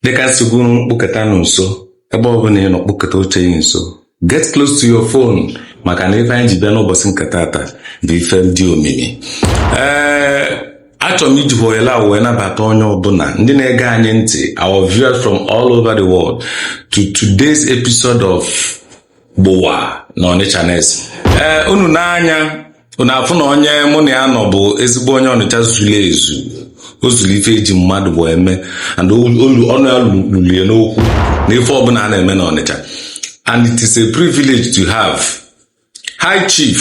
dịka nsogbu kpụkọtanụ nso ebe ọ bụna ị nọ kpụkọta oche gị nso get close to your phone maka na ife anyị ji bịa n'ụbọsị nke tata bụ ife dị omimi ee achọrọ m iji ohere a wee nabata onye ọbụna ndị na-ege anyị ntị our viewers from all over the world to today's episode of gbowa na ọnịcha nest ee eh, unu nee anya unu afụ na onye mụ na ya nọ bụ ezigbo onye ọnịcha zulu ezu o zulu ife eji mmadụ bụ eme and ọnụ ya lulie n'okwu na ife ọbụna a na-eme na ọnịcha and it is a privilege to have high chief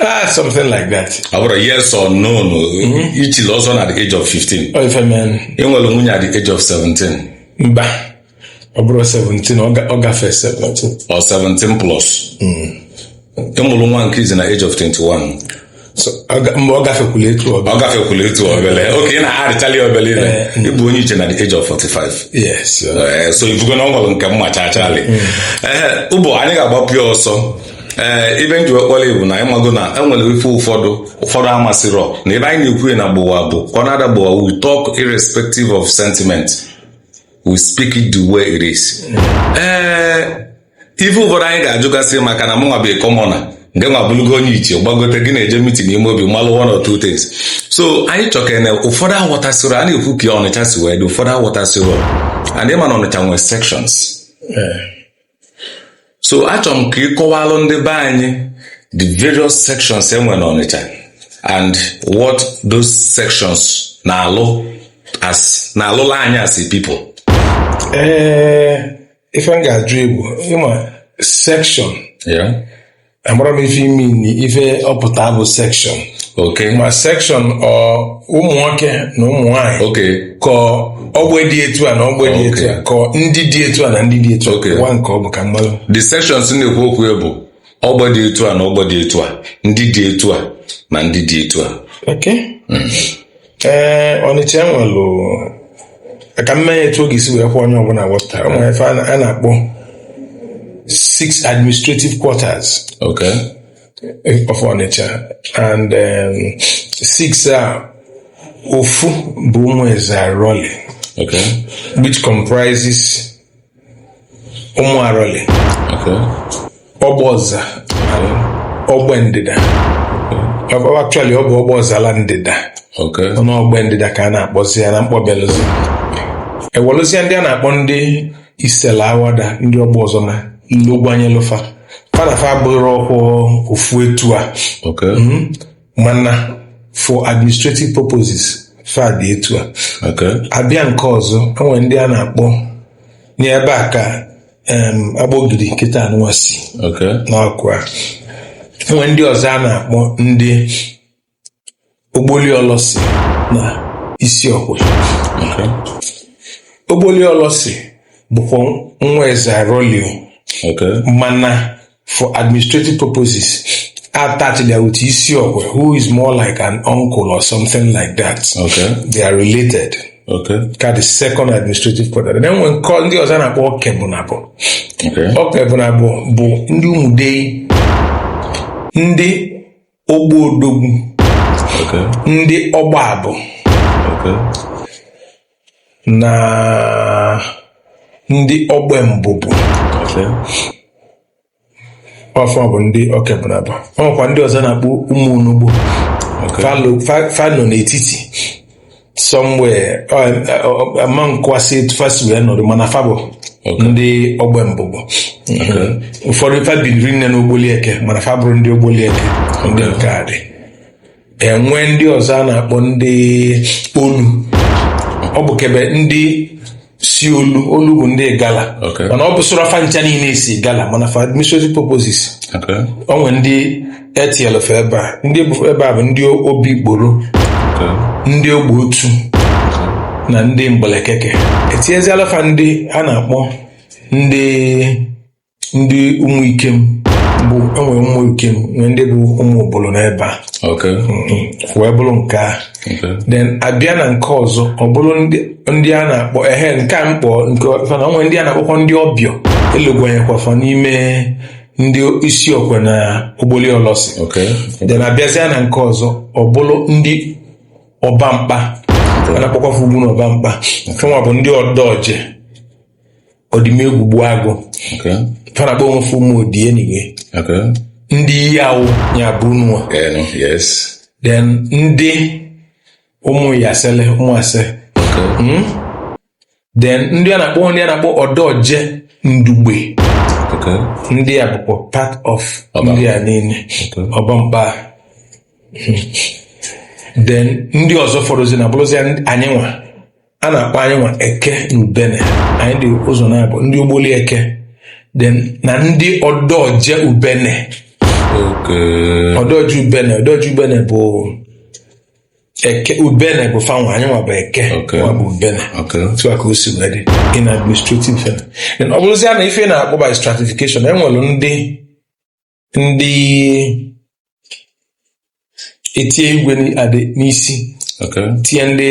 Ah, something like that. ọ bụrụ yes or no no i chili ọzọ na the age of 15 Ọ ife menụ. ị nwere nwunye at the age of 17 Mba. Ọ bụrọ 17, ọ ga- ọ gafee 17. or 17 plus ị mụrụ nwa nke izizi na age of 21 So, ọ ga- mgbe ọ gafekwula etu ọ ga- ọ gafekwula etu obele okay ị na-arịtali obele ile ị bụ onye ichie na the age of 45 Yes. uh, Eh, so ị fụgo na ọ nwere nke m machachalị ehe ugbu a anyị ga-agbapụ ya ọsọ ee ife m ji wee kpọọ ị bụ na ị mago na enwere ife ụfọdụ ụfọdụ amasịrọ na ebe anyị na-ekwu na gbowa bụ ọ na-ada gbowa we talk irrespective of sentiment we speak it the way it is ee ife ụfọdụ anyị ga-ajụgasị maka na mụnwa bụ commoner ngịnwa bụlụgo onye ichie gbagote gị na-eje meeting n'ime obi malụ one or two things so anyị chọkene ụfọdụ aghọtasịrọ a na-ekwu ka ọnịcha si wee dị ụfọdụ aghọtasịrọ and ị ma na ọnịcha nwere sections so achọrọ m ka ị kọwalụ ndị be anyị the various sections enwe na Ọnịcha and what those sections na-alụ as na-alụlụ anyị as a people ee ife m ga-ajụ ị bụ ma section yeah amarọ m ife ị mean na ife ọ pụta bụ section okay ma section ọ ụmụ nwoke na ụmụ nwaanyị okay ka ogbe dị etu a na ogbe dị etu a ka ndị dị etu a na ndị dị etu a Okay. gwa m nke ọ bụ ka m malụ the sections na-ekwu okwu ya bụ ogbe dị etu a na ogbe dị etu a ndị dị etu a na ndị dị etu a okay ee ọnịcha enwelụ ka m mee etu ọ ga-esi wee kwe onye ọbụna wọta o nwere ife a na- a na-akpọ six administrative quarters Okay. of ọnịcha and um, six a ofu bụ ụmụ eze arọli Okay. which comprises ụmụ arọlị ogbe ọza ogbe ndịda actually ọ bụ ogbe ọzala ndịda ọnụ ogbe ndịda ka a na-akpọzi ya na mkpọbelụzi enwelụzie ndị a na-akpọ ndị isela awada ndị ogbe ọzọma logwanyelụ fa fa na fa bụrụ ọkwụ ofu etu a mana for administrative purposes fa dị etu a Okay. abịa nke ọzọ enwere ndị a na-akpọ n'ebe a ka em, Agbogidi kịta anụwa si Okay. n'ọkụ a enwere ndị ọzọ a na-akpọ ndị ogboli ọlọsi na isi ọkwe Okay. ogboli ọlọsi bụkwa nwa eze aroli o Okay. mana for administrative purposes attachili ya with Isiokwe, who is more like an uncle or something like that. Okay. They are related. Okay. Ka the second administrative quarter. And then enwekwa ndị ọzọ a na-akpọ Okebunabọ. Okay. Okebunabọ bụ ndị Umudei, ndị ogbe odogwu ndị ọgbabụ na ndị ogbe mbụbụ ọ fa bụ ndị okebunabọ o nwekwa ndị ọzọ a na-akpọ ụmụ onugbo fa nọ n'etiti somewhere ama nkwasị etu fa si wee nọrọ mana fa bụ ndị ogbe mbụbụ ụfọdụ fa biniri nne na ogboli eke mana fa bụrụ ndị ogboli eke ndị nke a dị enwe ndị ọzọ a na-akpọ ndị olu ọ bụ kebe ndị si olu olu bụ ndị Igala Okay. mana ọ bụsịrọ fa ncha niile si Igala mana for administrative purposes Okay. o nwere ndị etinyelu fa ebe a ndị bụ ebe a bụ ndị obikporo Okay. ndị ogbe otu na ndị mgbelekeke etinyezialụ fa ndị a na-akpọ ndị ndị ụmụ ikem bụ enwere ụmụ ikem nwee ndị bụ ụmụ obodo n'ebe a Okay. Mhm. wee bụrụ nke a Okay. then abịa na nke ọzọ ọ bụrụ ndị ndị a na-akpọ ehe nke a mkpọ nke mana o nwe ndị a na-akpọkwa ndị obio elugwanyekwa fa n'ime ndị isi okwe na ogboli ọlọsị Okay. then abịazịa na nke ọzọ ọ bụrụ ndị ọba mkpa a na-akpọkwa fa ugwu na ọba mkpa fanwa bụ ndị ọdọje ọdịmegwu gbuagụ Okay. fa na-akpọ onwe fa ụmụ odi anyway Okay. ndị iyi awụ ya bụ unu nwa. Yes. then ndị ụmụ yasele ụmụ ase Okay. then ndị a na-akpọ ndị a na-akpọ ọdọje ndugbe Okay. ndị a bụkwa part of Ọba. ndị a niile Okay. ọbamkpa then ndị ọzọ fọrọzi na bụrụzi anyị nwa a na-akpọ anyị nwa eke na ubene anyị dị ụzọ nabọ ndị ogboli eke then na ndị ọdọje ubene Okay. ọdọje ubene ọdọje ubene bụ eke ubene bụ fanwa anyị nwa bụ eke Okay. nwa bụ ubene Okay. otu a ka o si wee dị in administrative form then ọ bụrụzia na ife na-akpọ by stratification enwere ndị ndị etie igwe adị n'isi okay tie ndị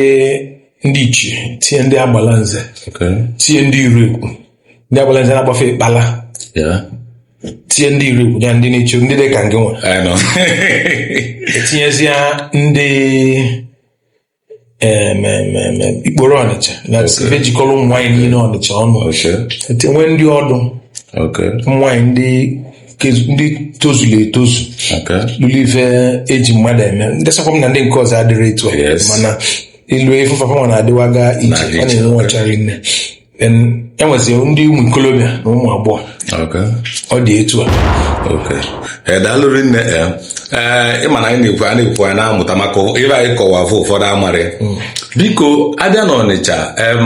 ndị ichie tie ndị Agbalanze okay tie ndị Iregwu ndị Agbalanze na-agbafe ịkpala yeah tie ndị Iregwu nya ndị na-eche ndị dị ka ngị nwa I know etinyezia ndị em, em, em, em, Ikporo Ọnịcha na ebe jikọlọ ụmụ nwaanyị niine Ọnịcha ọnụ Okay. etinye ndị Ọdụ Okay. ụmụ nwaanyị ndị kezu- ndị tozulu etozu Okay. lulu ife eji mmadụ eme ndị sakwa m na ndị nke ọzọ adịrị etu a Yes. mana ilu ife fa fanwa na-adịwaga iche Na ọ iche, na-enwu ọcha rinne Then enweziri ndị ụmụ ikolobịa na ụmụ agbọghọ Okay. ọ dị etu a Okay. Ee, daalụ rinne ee ee ịma na anyị na-ekwu a na-ekwu anyị na-amụta maka ife ị kọwa afụ ụfọdụ amarị biko abịa na Ọnịcha em,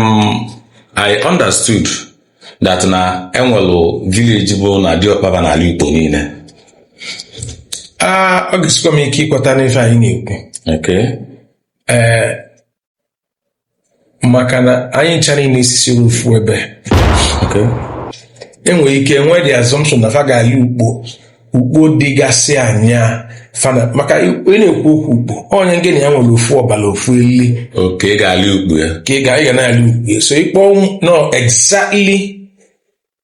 I understood that na enwelụ village bụ na diọkpa fa na-alị ukpo niine Ah, ọ ga-esikwa m ike ikweta n'ife anyị na-ekwu okay. ee maka na anyị ncha niile esisirọ ofu ebe Okay. enwere ike enwe the assumption na fa ga-alị ukpo ukpo dịgasị anya fana maka ị na-ekwu okwu ukpo onye ngị na ya nwere ofu ọbala ofu eli ka ị ga-alị ukpo ya ka ị ga ị ga na-alị ukpo so ịkpọ no exactly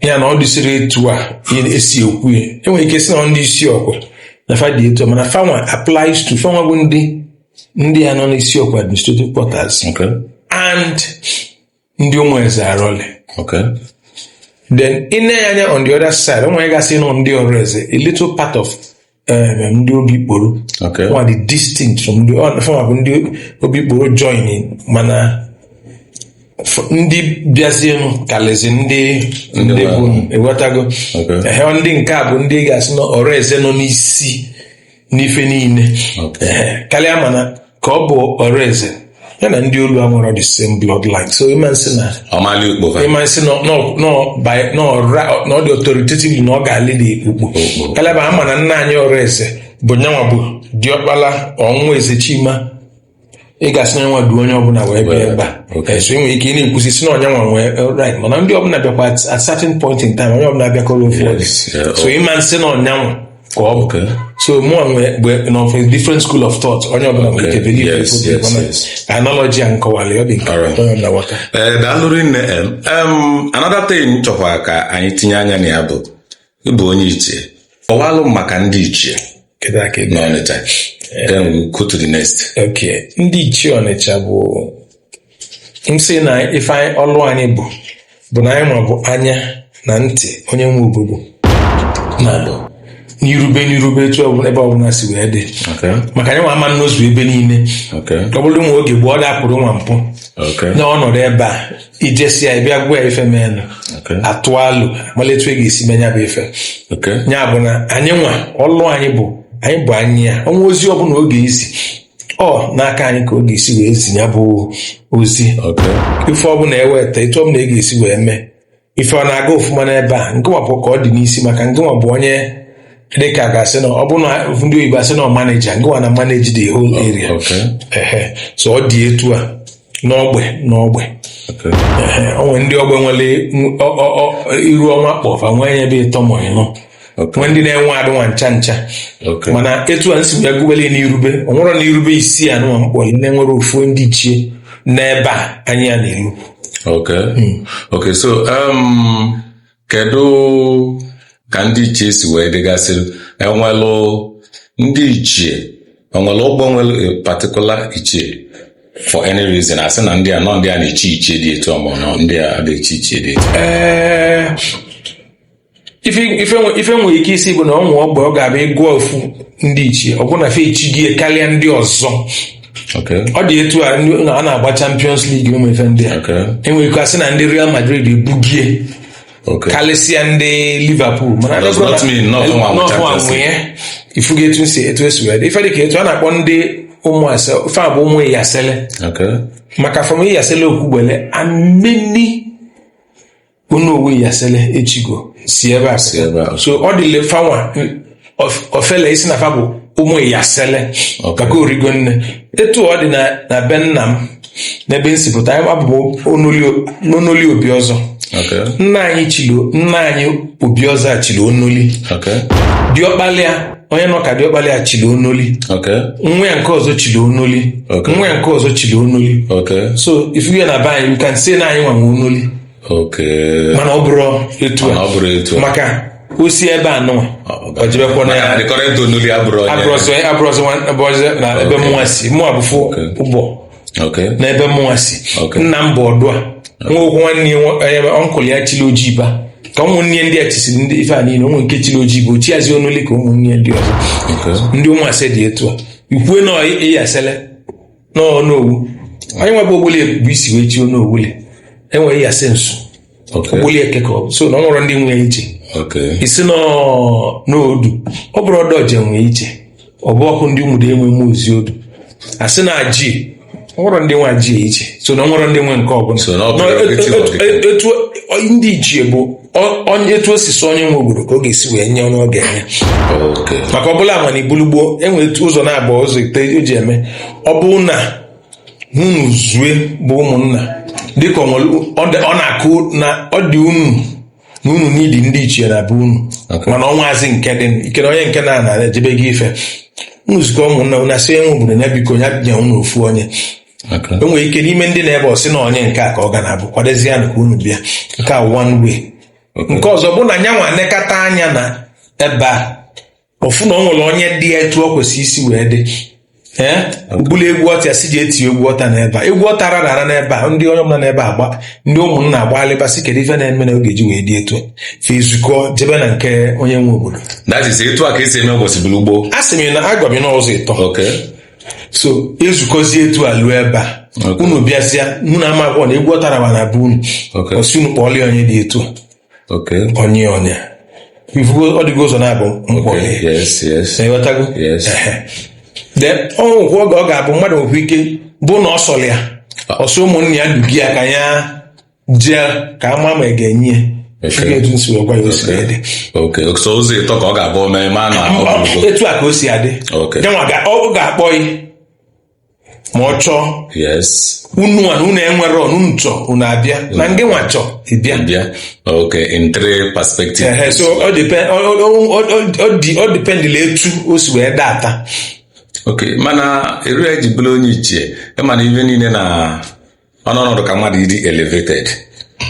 ya na ọ dịsịrị etu a esi ekwu ya enwere ike sị na ndị Isiokwe na fa dị etu a mana fanwa applies to fanwa bụ ndị ndị a nọ n'Isiokwe administrative quarters Okay. and ndị Ụmụezearọlị Okay. then i nee anya on the other side o nwegasịnụ ndị Ọreze a little part of eh, ndị Obikporo nwa dị distinct from ndị fanwa bụ ndị Obikporo joining mana ndị bịazienụ kalịzi ndị ndị bụ ị wọtago ndị nke a bụ ndị ị ga-asị na Ọreze nọ n'isi n'ife niile kalịa mana ka ọ bụ Ọreze ya na ndị olu a nwere the same bloodline so ị ma asị na ọ ma-alị ukpo fa ị ma asị na nọ- nọ- by- nọ ra- na ọ dị authoritative na ọ ga-alị ukpo kalaba ama na nna anyị Ọreze bụ nyanwa bụ diọkpala nwa Eze Chima ị ga-asị na ọ nyanwa du onye ọbụla wee bịa ebe a Okay. so ị nwere ike ị na-ekwusi sị na ọ nyanwa nwee right mana ndị ọbụla bịakwa at at certain point in time onye ọbụla bịakọrọ ofu Yes, yeah, so ị ma asị na ọ nyanwa ka ọ bụ so mụnwa nwee of a different school of thought onye ọbụla nwere ike believe yes, yes, yes. analogy a m kọwalụ ọ dị nke onye ọbụla ghọta eh, daalụ rinne another thing m chọkwa ka anyị tinye anya na ya bụ ịbụ onye ichie kọwalụ maka ndị ichie n'Ọnịcha then we go to the next okay ndị ichie Ọnịcha bụ m sị na ife anyị- ọlụ anyị bụ bụ na anyị nwa bụ anya na ntị onye nwe obodo na bụ n'irube n'irube etu ọbụla ebe ọbụla si wee dị Okay. maka anyị nwa ama nnọzu ebe niile Okay. ọ bụrụ nwa oge gboo ọ dapụrụ nwa mpụ Okay. na ọ nọdụ ebe a i jesịa bịa gwa ya ife menụ Okay. a tụa alo malụ etu a ga-esi mee nya bụ ife Okay. ya bụ na anyị nwa ọlụ anyị bụ anyị bụ anya o nwee ozi ọbụla ọ ga-ezi ọ n'aka anyị ka ọ ga-esi wee zi nya bụ ozi ife ọbụla eweta etu ọbụla ị ga-esi wee mee ife a na-aga ọfụma n'ebe a ngị nwa bụ ka ọ dị n'isi maka ngị nwa bụ onye dịka ga-asị na ọ bụrụ na ndị oyibo asị na ọ maneja ngị nwa na-maneji the whole area ehe so ọ dị etu a n'ogbe n'ogbe ehe o nwere ndị ogbe nwere iru ọma kpọ fa nwee ebe ịtọ ma ịnọ nwee ndị na-enwe adịnwa ncha ncha mana etu a m si wee gụbelụ n'irube o nwerọ na irube isii anụnwa m kpọlụ na-enwerọ ofu ndị ichie n'ebe a anyị a na-eru okay hmm. okay so um kedu ka ndị ichie si wee dịgasị enwelụ ndị ichie enwelụ ogbe nwere particular ichie for any reason asị na ndị a na ọ ndị a na-echi ichie dị etu mọbụ na ndị a adị echi ichie dị etu ife nwere ike ịsị bụ na o nwee ogbe ị ga-abịa ị gụọ ofu ndị ichie ọ bụrụ na fa echigie karịa ndị ọzọ ọ dị etu a a na-agba Champions League ụmụ ife ndị a enwere ike asị na ndị Real Madrid ebugie karịsịa ndị Liverpool mana na ọ fa nwe nya ị fụgo etu m si etu esi wee dị ife dị ka etu a na-akpọ ndị Ụmụase ife a bụ ụmụ Iyasele maka from Iyasele Okwugbele ameni Onowu Iyasele echigo si ebe a pụta ebe a. so ọ dịlị fa nwa of- ọfele ịsị na fa bụ ụmụ Iyasele Okay. maka o rigo nne etu ọ dị na na be nna m n'ebe m si pụta anyị a bụ ụmụ Onoli Obiọzọ Okay. nna anyị chili nna anyị Obiọzọ a chili Onoli Okay. diọkpala ya onye nọ ka diọkpala ya chili onoli Okay. nwa ya nke ọzọ chili onoli Okay. nwa ya nke ọzọ chili onoli Okay. so ị fụ ya na be anyị you can say na anyị nwa nwe onoli Okay. mana ọ bụrọ etu Mana ọ bụrọ etu a. maka o si ebe anụnwa ọ jebekwa na ya The current Onoli abụrọ onye. abụrọzị abụrọzị nwa- abụrọzị na ebe mụnwa si mụnwa bụ from Ogbo n'ebe mụnwa si nna m bụ Ọdụa nwa okwu nwanne ya uncle ya chili Ojiba ka ụmụnne ndị a chisiri ndị ife a niile o nwee nke chili Ojiba o chiazi Onoli ka ụmụnne ndị ọzọ ndị Ụmụase dị etu a i kwue na Iyasele na Onowu anyị nwa bụ Ogboli bụ isi wee chi Onowu le enwere Iyase nso ogboli eke ka ọ bụ so na o nwerọ ndị nwe ichie ị sị na odu ọ bụrụ odoje nwe ichie ọ bụ ọkụ ndị ụmụdei nwe mụ ozi odu a sị na ajie o nwerọ ndị nwe ajie ichie so na o nwerọ ndị nwe nke ọbụla etu ndị ichie bụ onye etu o si so onye nwe obodo ka ọ ga-esi wee nye onye ọ ga-enye maka ọ bụla mana i bulu gboo e nwelu ụzọ naabọ ụzọ ịtọ e ji eme ọ bụ na unu zue bụ ụmụnna dịka ọ nwere- ọ dị- ọ na-akụ na ọ dị unu na unu enwedị ndị ichie na be unu Okay. mana o nwezi nke dị ikere onye nke na na ejebe gị ife unu zukọ ụmụnna unu asị onye nwe obodo ya biko ya nye unu ofu onye Okay. e nwere ike n'ime ndị na-ebe ọ sị na onye nke a ka ọ ga na-abụ kwadozie ya ka unu bịa nke a one way nke ọzọ bụ na nya nwa nekata anya na ebe a ọ fụ na ọ nwere onye dị ya etu ọ kwesịrị isi wee dị e bulu egwu ọta si ji eti egwu ọta n'ebe a egwu ọta rara ara n'ebe a ndị onye ọbụla n'ebe agba ndị ụmụnna agbalịba sị kedu ife na-eme na oge ji wee dị etu fa ezukọ jebe na nke onye nwe obodo that is etu a ka esi eme ụbọchị bulu gboo a sị m na agwa m n'ụzọ ịtọ okay so ezukọzie etu a luo ebe a Okay. unu bịazịa mụ na ama abụọ na egwu ọta rara na be unu Okay. ọ sị unu kpọọlị onye dị etu a onye onye ị fụgo ọ dịgo ụzọ naabọ mkpọghe ịghọtago o nwekwuu oge ọ ga-abụ mmadụ nwekwa ike bụ na ọ sọrọ ya ụsọ ụmụnne ya duga ya ka ya jee ka a maa ma a ga-enye ya etu m si wee gwa ya o si dị ụzọ ịtọ ka ọ ga-abụ mee ma na etu a ka o si adị ọ ga-akpọ ya ma ọ chọọ yes unu nwa na unu enwere onye unu chọọ unu abịa na ngị nwa chọọ ị bịa bịa okay in three perspective Ehe, so ọ depend- ọ- ọ- ọ- ọ- ọ- ọ dị- ọ dependịla etu o si wee data okay mana eri i ji bụrụ onye ichie ị ma na ife niile na ọnọdụ ka mmadụ ịdị elevated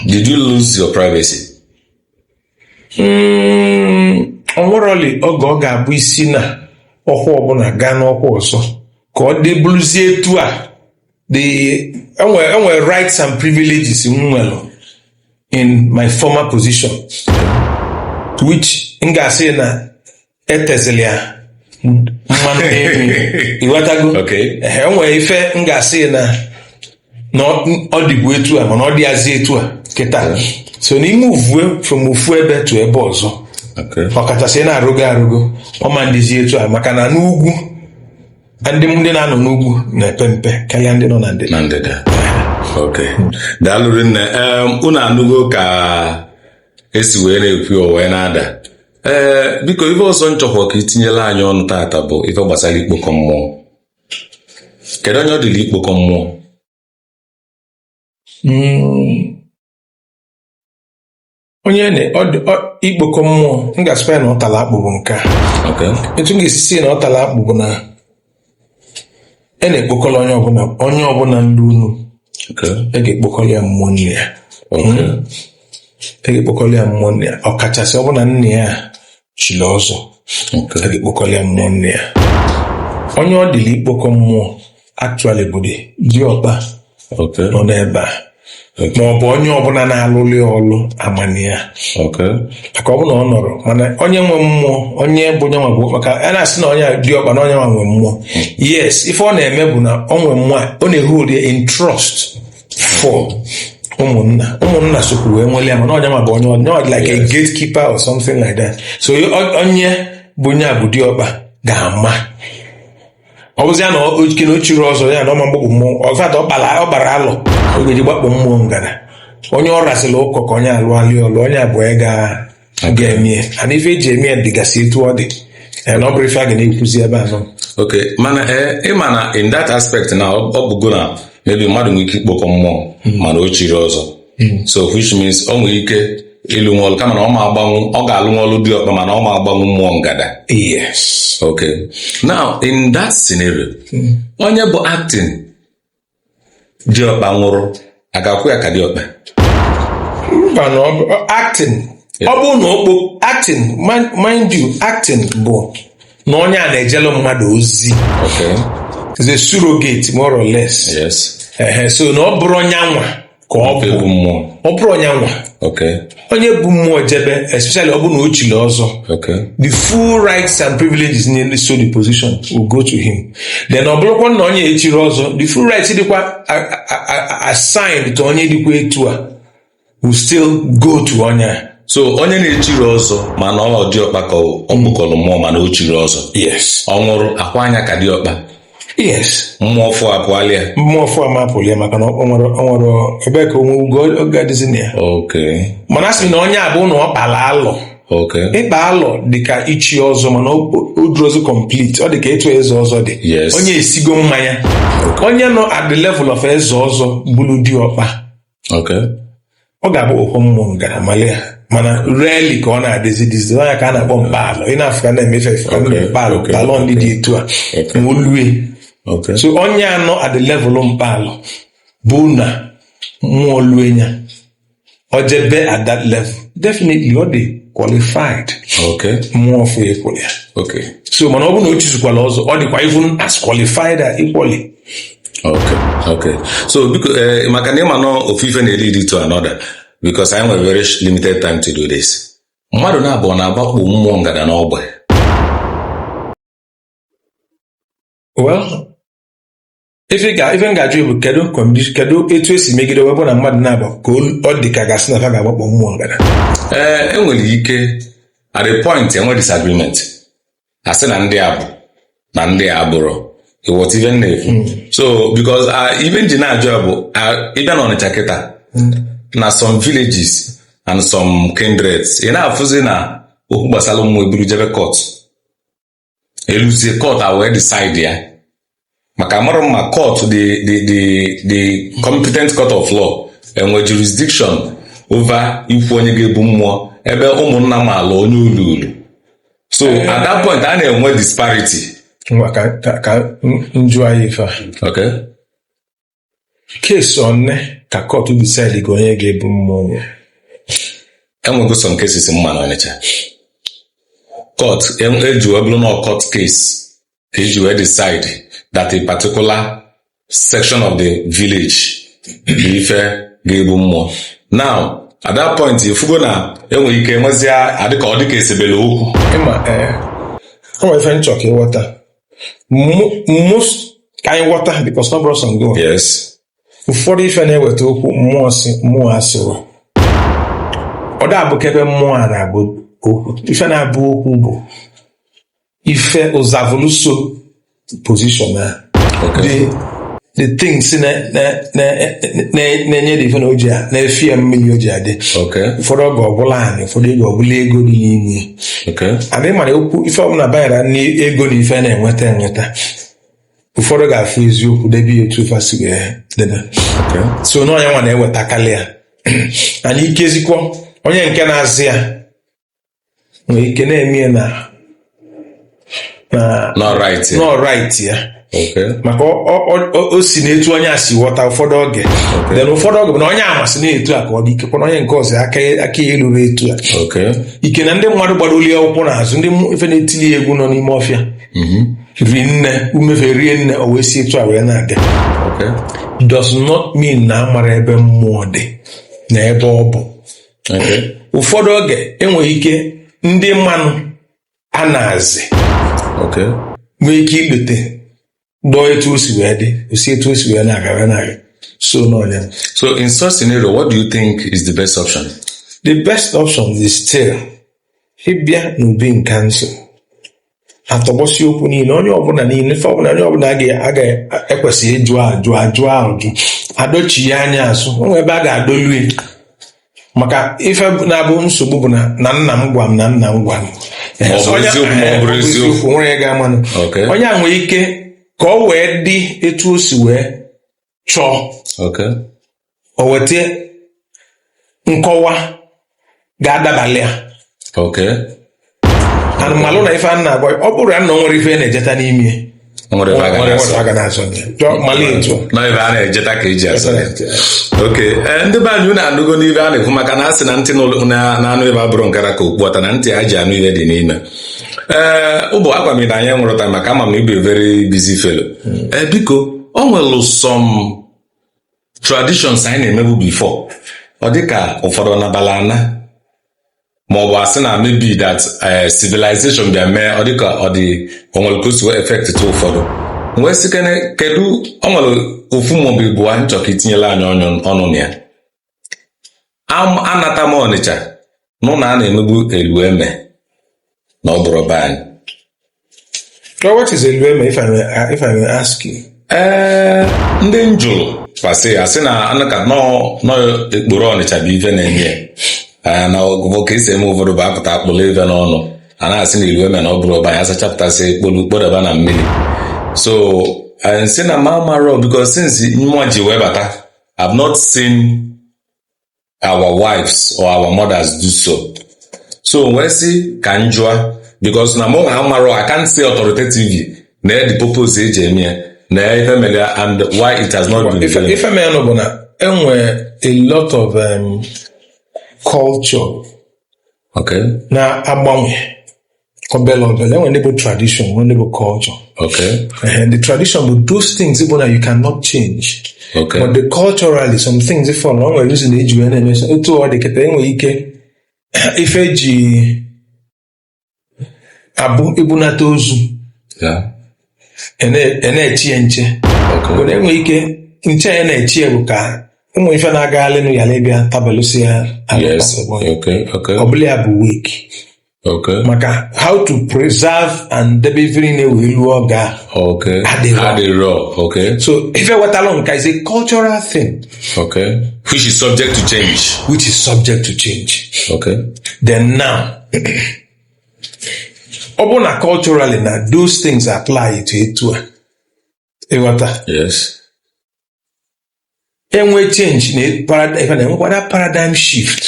did you lose your privacy ọ nwerọli oge ọ ga-abụ i si na ọkwa ọbụla gaa n'ọkwa ọzọ ka ọ dịbuluzi etu ọ dị e nwere rights and privileges m nwere in my former position to which m ga-asị na etezili ya mmanụ n'elu ịghọtago enwere ife m ga-asị na ọ dịbu etu a mana ọ dịazi etu a kịta so na i move from ofu ebe to ebe ọzọ ọkachasị na-arogo arogo ọ ma-adịzi etu a maka na n'ugwu ndị ndị na-anọ n'ugwu na-epe mpe karịa ndị nọ na ndịda daalụ rinne unu anụgo ka esi wee na-ekwu wee na-ada ee biko ife ọzọ m chọkwa ka itinyela anyị ọnụ tata bụ ife gbasara ikpokọ mmụọ kedu onye ọ dịlị ikpokọ mmụọ mm. onye ikpokọ mmụọ m ga-asịkwa ya na ọ tara akpụ bụ nke a etu m ga-esi si na ọ tara akpụ bụ na e na-ekpokọrọ onye ọbụla onye ọbụla ndị unu Okay. e ga-ekpokọrọ ya mmụọ nne ya Okay. e ga-ekpokọrọ ya mmụọ nne ya ọkachasị ọ bụ na nne ya chiri ọzọ a Okay. ga-ekpokọrọ ya mmụọ nne ya onye ọ dịlị ikpokọ mmụọ actually bụ di diọkpa Okay. nọ n'ebe a ma ọ bụ onye ọbụla na-alụlụ ya ọlụ amana ya Okay. maka ọ bụ na ọ nọrọ mana onye nwe mmụọ onye bụ onye nwe bụ maka a na-asị na onye diọkpa na onye nwe nwe mmụọ yes ife ọ na-eme bụ na ọ nwe mmụọ a, ọ na-ehold ya in trust for ụmụnna ụmụnna sokwu wee nwere ya mana onye nwe bụ onye onye nwe dị like a gatekeeper or something like that so o- onye bụ onye a bụ diọkpa ga-ama ọ bụzi ya na okay na o chirọ ọzọ ya na ọ ma agbakpọ mmụọ ọzọ atọ ọ kparọ alọ o ga-eji gbakpụ mmụọ ngana onye ọ rasịla ụkọ ka onye alụ alị ọlụ onye a bụ ya ga ga-emie and ife eji eme ya dịgasị etu ọ dị ya na ọ bụrụ ife a ga na-ekwuzi ebe anọ ok mana ị ma na in that aspect na ọ bụgo na maybe mmadụ nwere ike ikpokọ mmụọ mana o chirọ ọzọ hmm. so which means o nwere ike ịlụnwu ọlụ kama na ọ ma agbanwu ọ ga-alụnwu ọlụ diọkpa mana ọ ma agbanwu mmụọ ngada yes okay now in that scenario hmm. onye bụ acting diọkpa nwụrụ a ga-akwa ya ka diọkpa mba na acting ọ bụrụ na okpo acting mind you acting bụ na onye a na-ejelu mmadụ ozi is a surrogate more or less yes so na ọ bụrụ onye anwa ka ọ bụ ọ bụrụ onye anwa onye bu mmụọ jebe especially ọ bụ na o chiri ọzọ the full rights and privileges na-eso the position will go to him then ọ bụrụkwa na onye echirọ ọzọ the full rights dịkwa assigned to onye dịkwa etu a will still go to onye a so onye na-echirọ ọzọ mana ọ diọkpa ka ọ kpokọrọ mmụọ mana o chirọ ọzọ yes ọ nwụrụ a kwaa nya ka diọkpa yes mmụọ afụ apụala ya mmụọ afụ ama apụlụ ya maka na ọ nwere ọ nwere ebe ka onwe ugo ọ ga-adịzi na ya okay mana a sị na onye a bụ na ọ kpara alọ okay ịkpa alọ dị ka ichi ọzọ mana ọ ọ dịrọzi complete ọ dị ka etu eze ọzọ dị Yes. onye esigo mmanya onye nọ at the level of eze ọzọ bụrụ diọkpa ọ ga-abụ okwu mmụọ ngada male ha mana rarely ka ọ na-adịzi dizi anya ka a na-akpọ mkpalọ ị na-afụ ka na-emefe efe ka ndị mkpalọ mkpalọ ndị dị etu a ma olue so onye a nọ at the level mkpalọ bụ na mmụọ lue ya ojebe at that level definitely ọ dị qualified mmụọ ọfụ ya equally so mana ọ bụrụ na o chizukwala ọzọ ọ dịkwa even as qualified equally okay okay so biko eh, maka na ịma na ofu ife na-lead to another because anyị nwere very limited time to do this mmadụ naabọ na-agbakpọ mmụọ ngada n'ọgbe well ife ị ga- ife m ga-ajụ bụ kedu condi- kedu etu esi megide wee bụ na mmadụ na-agba ka olu- ọ dị ka a ga-asị na ha ga-agbakpọ mmụọ ngada ee enwere ike at a point enwe disagreement a sị na ndị a bụ na ndị a abụrọ ị ghọta ife m na-ekwu hmm. so because uh, ife nji na-ajụ ya bụ uh, ịbịa na Ọnịcha kịta hmm. na some villages and some kindreds ị na-afụzi na okwu gbasara mmụọ eburu jebe court eluzie court a wee decide ya maka amarọ m ma court the the the the competent court of law enwe jurisdiction over ikwu onye ga-ebu mmụọ ebe ụmụnna maala onye o luulu so at that point a na-enwe disparity Ngwa ka ka- ka m- m jụọ ya ife a. okay case one ka court decide-go onye ga-ebu mmụọ enwego some cases m ma na ọnịcha court eji wee bụrụ na court case ka eji wee decide that a particular section of the village bụ ife ga-ebu mmụọ now at that point ifugo na enwere ike nwezia adịka ọ dịka esebele okwu ịma ee ọ nwere ife nchọ ka ịghọta ka anyị ghọta because ọ bụrọ sọ ngo ụfọdụ ife na-eweta okwu mmụọ si mmụọ asịrọ ọ da-abụkwa ebe mmụọ a na-abụ okwu ife na-abụ okwu bụ ife ọzọ bụ ulu so position a the things na-enye dị ife na oji a na-efi ya mmiri oji adị ụfọdụ oge ọ bụlụ anị ụfọdụ oge ọ bụlụ ego dị n'ime adị mara okwu ife ọbụla banyere n'ego na ife na-enweta enweta ụfọdụ ga-afụ eziokwu debe ya etu fa si wee debe so n'ọ nya nwa na-ewetakarị ya anyị ikezikwa onye nke na-azị ya nwere ike na-eme ya na na na right ya. nọ right ya Okay. maka ọ- ọ- ọ- ọ- o si na etu onye a si ghọta ụfọdụ oge then ụfọdụ oge bụ na onye a masị na etu a ka ọ dị ikekwe na onye nke ọzọ aka ya- aka ya eruru etu a Okay. ike na ndị mmadụ gbara oli akwụkwọ n'azụ ndị mmụ- ife na-etili ya egwu nọ n'ime ọfịa ri nne ụmụ ife rie nne o wee si etu a wee na-aga Okay. does not mean na amara ebe mmụọ dị na ebe ọ bụ ụfọdụ oge e nwere ike ndị manụ a na-azị nwee ike ikpete dọọ etu o si wee dị osi etu o si wee na-agara na so n'ọnya so in such scenario what do you think is the best option the best option is still ịbịa n'Obi in Council atọgbọsi okwu niile onye ọbụla niile ife ọbụla onye ọbụla ga-ekwesị ịjụ ajụ ajụ ajụ adọchie anya azụ o nwee ebe a ga-adọlu ya maka ife na-abụ nsogbu bụ na na nna m gwa m na nna m gwa m Ma ọ bụ Onye- eziokwu ma ọ bụrụ eh, eziokwu. nwere ya ga-amanụ Okay. onye a nwere ike ka ọ wee dị etu o si wee chọọ o weta nkọwa ga-adabalị ya anyị malụ na ife a na-agwa ọ bụrụ ya na o nwere ife a na-ejeta n'ime nwere ife a ga na-azọ mali etu na ife a na-ejeta ka eji azọ oke eh, ndị be anyị unu anụgonu ife a na-ekwu maka na a sị na ntị na-anụ ife abụrọ nke ra ka okpu ata na ntị a ji anụ ife dị n'ime ee ụbụ agwa m na anyị nwụrụ taa maka ama m na ị bụ very busy fellow ee biko o nwere some traditions anyị na-emebu before ọ dịka ụfọdụ nabala ana ma ọ bụ asị na maybe that eh, civilization bịa mee ọ dịka ọ dị o nwere ka o si wee affect ụfọdụ wee sị kene kedu o nwere ofu maọbụ ịbụa m chọ ka i tinyelu anyị ọnụ ọnụ na ya anata m Ọnịcha nụ na a na-emebu elu eme na ọ bụrụ be anyị Now, what is Elueme, if I may, uh, if I may ask you? ee ndị m jụrụ kọwasịa sị na anaka nọọ nọọ ikporo Ọnịcha bụ ife na-eme ya. Ee, na ọgụgụ ka esi eme ụfọdụ bụ apụta akpụrụ ife n'ọnụ a na-asị na ilu eme na ọ bụrụ ọba ya sachapụtasị ekpolu kpodaba na mmiri so eh, m sị na m amarọ because since mụwa ji wee bata I've not seen our wives or our mothers do so. So wee sị ka m jụa because na mụwa amarọ I can't say authoritatively nee the purpose eji eme ya nee ife mere ya and why it has not been done. ife mere nụ bụ na enwe a lot of um, culture culture na-agbanwe obele obele enwere ndị bụ tradition nwere ndị bụ culture okay. and the tradition bụ those things bụ na you cannot change okay. but the culturally some things fall na o nwere reason eji wee na-eme so etu ọ dị kịta enwere ike ife eji abụ ibunata ozu yeah. a na-eche ya nche but enwere ike nche a na-eche ya bụ ka ụmụ ife na-agaghalịnụ ghalụ ịbịa tabalụsi ya arụ Yes. ọgbọ ya. Okay. Okay. ọ bụlụ ya bụ wake Okay. maka how to preserve and debe ife niile wee luo oge a Okay. Adịrọ. Adịrọ. Okay. so ife wetalụ nka is a cultural thing Okay. Which is subject to change. which is subject to change Okay. then now ọ bụrụ na culturally na those things apply to etu a ị ghọta yes enwe change na paradigm ife na enwekwa that paradigm shift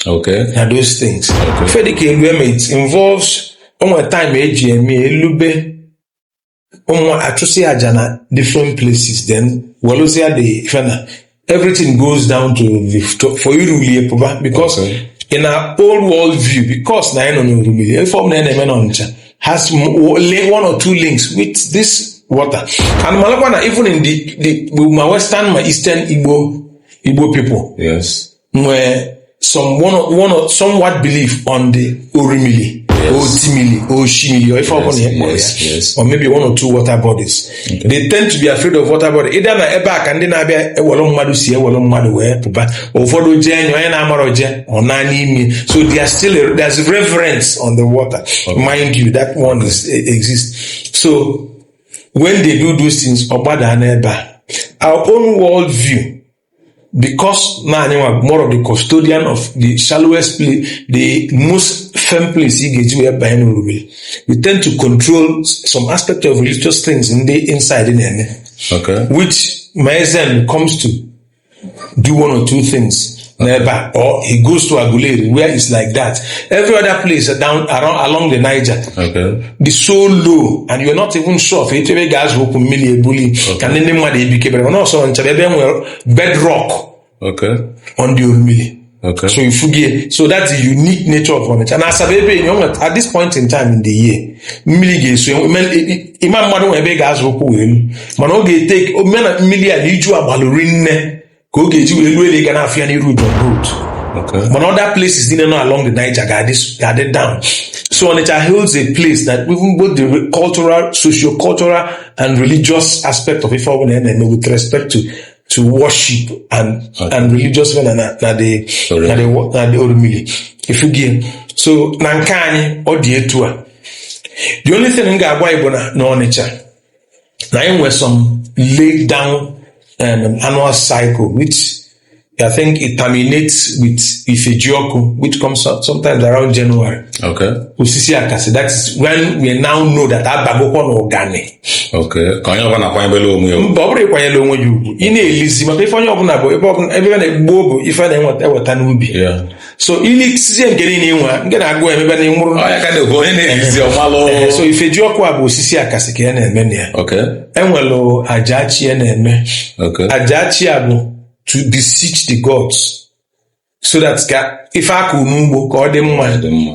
okay na those things Okay. ife dịka elu eme it involves o nwe time eji eme elube ụmụ achụsị aja na different places then welụzia the ife na everything goes down to the to- for irulie pụba because Okay. in our old world view because na anyị nọ n'Orumili ife ọbụla anyị na-eme n'Ọnịcha has m- o- link- one or two links with this water and malụkwa na even in the, the ma western ma eastern Igbo Igbo people Yes. nwee some one or, one or somewhat belief on the orimili yes. otimili oshimili or if yes, yes, yes, yes. or maybe one or two water bodies okay. they tend to be afraid of water body either na ebe a ka ndị na-abịa ewelụ mmadụ si ewelụ mmadụ wee pụba ụfọdụ jee enyo onye na-amara oje ọ na n'ime so they are still a, there's reverence on the water okay. mind you that one okay. is, eh, exists so when they do those things ọ gbadaa n'ebe a our own world view because na anyị nwa more of the custodian of the shallowest place the most firm place ị ga-eji wee banye n'orubere we tend to control some aspect of religious things ndị inside na-eme Okay. which Mazen comes to do one or two things nearby, or he goes to Aguleri, where it's like that. Every other place down around along the Niger, Okay. dị so low and you're not even sure of etu ebe ị ga-azọ ụkwụ mmili ebuli ka ndị ndị mmadụ ebikebere mana ọ sọ Ọnịcha bụ ebe e nwere bedrock Okay. on the Orumili Okay. so ị fụgo ya so that's the unique nature of Onitsha na Asaba ebe enyi onwe at this point in time in the year mmili ga-eso enwe- ime- i- i- ịma mmadụ nwe ebe ị ga-azọ ụkwụ wee elu mana ọ ga-etake omena mmili a na iju agbalụ rinne ka ọ ga-eji wee ruo ebe ị ga na-afụ ya n'iru John Road mana other places niile nọ along the Niger ga-adị down so Onitsha holds a place that even both the cultural socio-cultural and religious aspect of ife ọbụla na-eme with respect to to worship and okay. and religious men na na the na the na the Orumili ị fụgo ya so na nke anyị ọ dị etu a the only thing m ga-agwa ị bụ na n'Ọnịcha na anyị nwere some laid down um, annual cycle which I think it terminates with Ifejioku, which comes out sometimes around January. Okay. Osisi Akasi. That is when we now know that abagokwa na ụganị. Okay. Ka onye ọbụla kwanyebele onwe ya. Mba ọ bụrụ ịkwanyere onwe ya ugwu. Ị na-elizi maka ife onye ọbụla bụ ebe ọbụla ebe a na-egbu bụ ife na-eweta n'ubi. so ilisizie nke niile inwe ngị na agụ emebe na ịnwụrụ Ọ ya ka na-ekwu onye na-ejizi ọmalụ Ee, so Ifejioku a bụ osisi akasị ka a na-eme na ya okay enwere Ajachi a na-eme okay Ajachi a bụ to beseech the gods so that ka ife a kụ n'ugbo ka ọ dị mma dị mma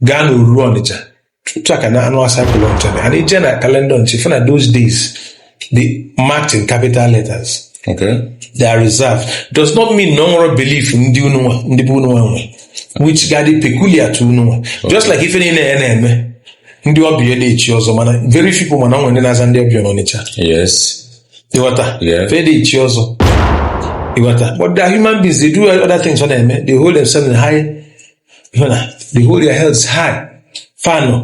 gaa na oruru ọnịcha otu a ka annual cycle ọnịcha dị. and ije na kalenda ọnịcha ị fụ na those days they're marked in capital letters Okay. they are reserved does not mean na o nwerọ belief ndị unu nwa ndị bụ unu nwa nwe which ga-adị peculiar to unu nwa just like ife niile ya na-eme ndị ọbịa na-echi ọzọ mana very few people mana ọ nwere ndị na-aza ndị ọbịa n'ọnịcha Yes. ịghọta Yeah. fa na-echi ọzọ ịghọta but they are human beings they do other things fa na-eme they hold themselves in high they hold their heads high fanụ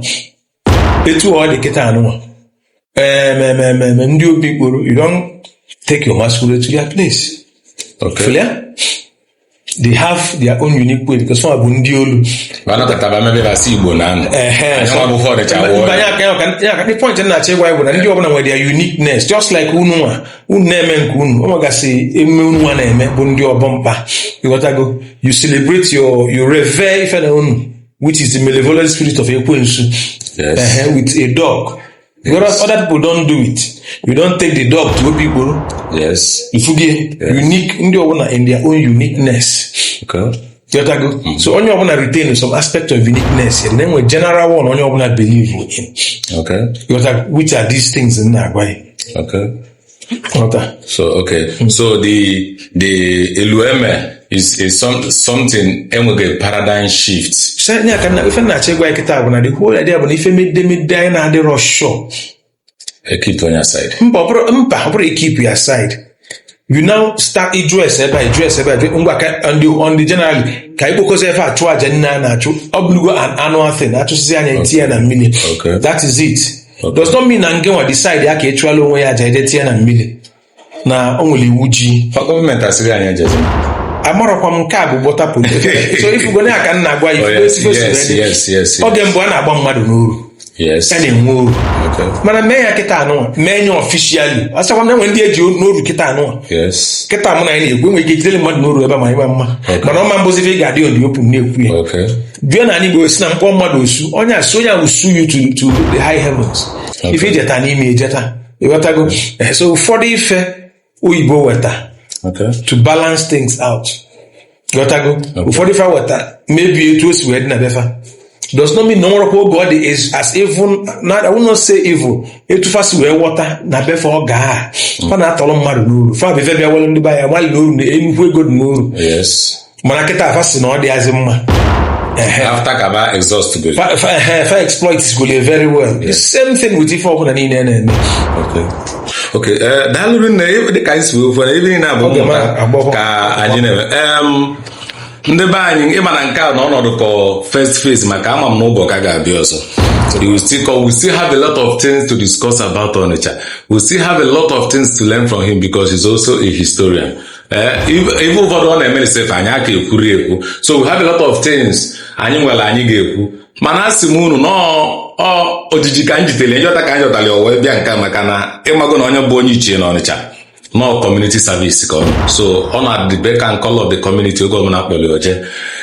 etu ọ dị kịta unu nwa eme emume ndị Obikporo you don take your masquerade to their place okay. Clear? they have their own unique way because some bụ ndị olu the point na-achọ ịgwa bụ na ndị ọbụla nwere their uniqueness just like unu nwa unu na-eme nke unu o nwegasị emume unu nwa na-eme bụ ndị Ọbamkpa ịghọtago you celebrate your you revere ife na unu which is the malevolent spirit of ekwensu Yes. Ehe, with a dog because other people don't do it you don't take the dog to Obikporo Yes. ịfụgo ya unique ndị ọbụla in their own uniqueness Okay. Jotago. Mm-hmm. So onye ọbụla retain some aspect of uniqueness and then the general one onye ọbụla believe in. Okay. Jotago, which are these things m na-agwa ya. Okay. Okay. So okay. Mm-hmm. So the the elueme is is some, something enweghị a paradigm shift. Sị anya ka ife na-achọ ịgwa ya kịta bụ na the whole idea bụ na ife medemede anyị na-adịrọ sure e keep onye aside mba ọ bụrụ mba ọ bụrụ e keep ya aside you now start ịjụ ese ebe a ịjụ ese ebe a jụ- ngwa ka ndị ndị generally ka anyị kpokọzi ebe a chụọ aja nne a na-achụ ọ bụrụgo an annual thing achụsịzia nya etinye na mmiri Okay. that is it Okay. does not mean na ngị nwa decide ya ka ịchụala onwe ya aja jee tinye na mmiri na o nwere iwu ji Ọ gọọmenti asịrị anyị ejeje amarọkwa m nke a bụ bọta polis so ifugo na aka na-agwa ya Oh, ifugo yes, ifugo yes, siri yes, yes, yes. oge mbụ a na-agba mmadụ n'oru yes a na-enwe oru okay mana mee ya kịta anụnwa mee nye officially asịkwa na enwe ndị eji n'oru kịta anụnwa yes kịta mụ na gị na-ekwu enwere ike ijidere mmadụ n'oru ebe a ma ịma mma mana ọ ma-abụzi ife ị ga-adị in the open na-ekwu ya okay bịa na anyị bụ si na mkpọ mmadụ osu onye asụ onye ahụ sue you to, to the high heavens ife ijeta n'ime ejeta ịghọtago Eh, so ụfọdụ ife oyibo weta Okay. to balance things out ghọtago ụfọdụ ife weta maybe etu o si wee dị na be fa does not mean na o nwerọkwa oge ọ dị is as evil na I will not say evil etu fa si wee ghọta na be fa oge a fa na-atọrọ mmadụ n'oru fa bụ ife bịa were ndị be anyị malụ na uru na nnukwu ego dị n'oru Yes. mana kịta a fa sị na ọ dịrọzi mma Ehe. after ka fa exhaust go Fa- fa- ehe, fa exploit golu ya very well the same thing with ife ọbụla niile a na-eme okay okay eh, daalụ rinne ị- dịka anyị si wee kwuo na ebe niile a bụ Oge mmụta ma agbọghọ. ka anyị na-eme Em, ndị be anyị ịma na nke a na ọnọdụ ka first phase maka ama m na ụbọ ka ga-abịa ọzọ You will still come. We still have a lot of things to discuss about Onitsha. We still have a lot of things to learn from him because he's also a historian. Eh, ife ụfọdụ ọ na-eme sef anyị aka ekwurọ ekwu so we have a lot of things anyị nwere anyị ga-ekwu mana asị m unu nnọọ ojiji ka m jitere njọta ka m jọtara ya wee bịa nka maka na ịmago na onye bụ onye ichie na Ọnịcha nọ community service ka ọ so ọ nọ at the beck and call of the community oge ọbụla a kpọrọ o jee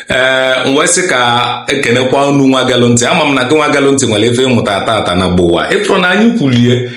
ee eh, wee sị ka ekenekwa unu nwa gelụ ntị ama m na gị nwa gelụ ntị nwere ife ị mụta tata na gbowa ịpụrụ na anyị kwulie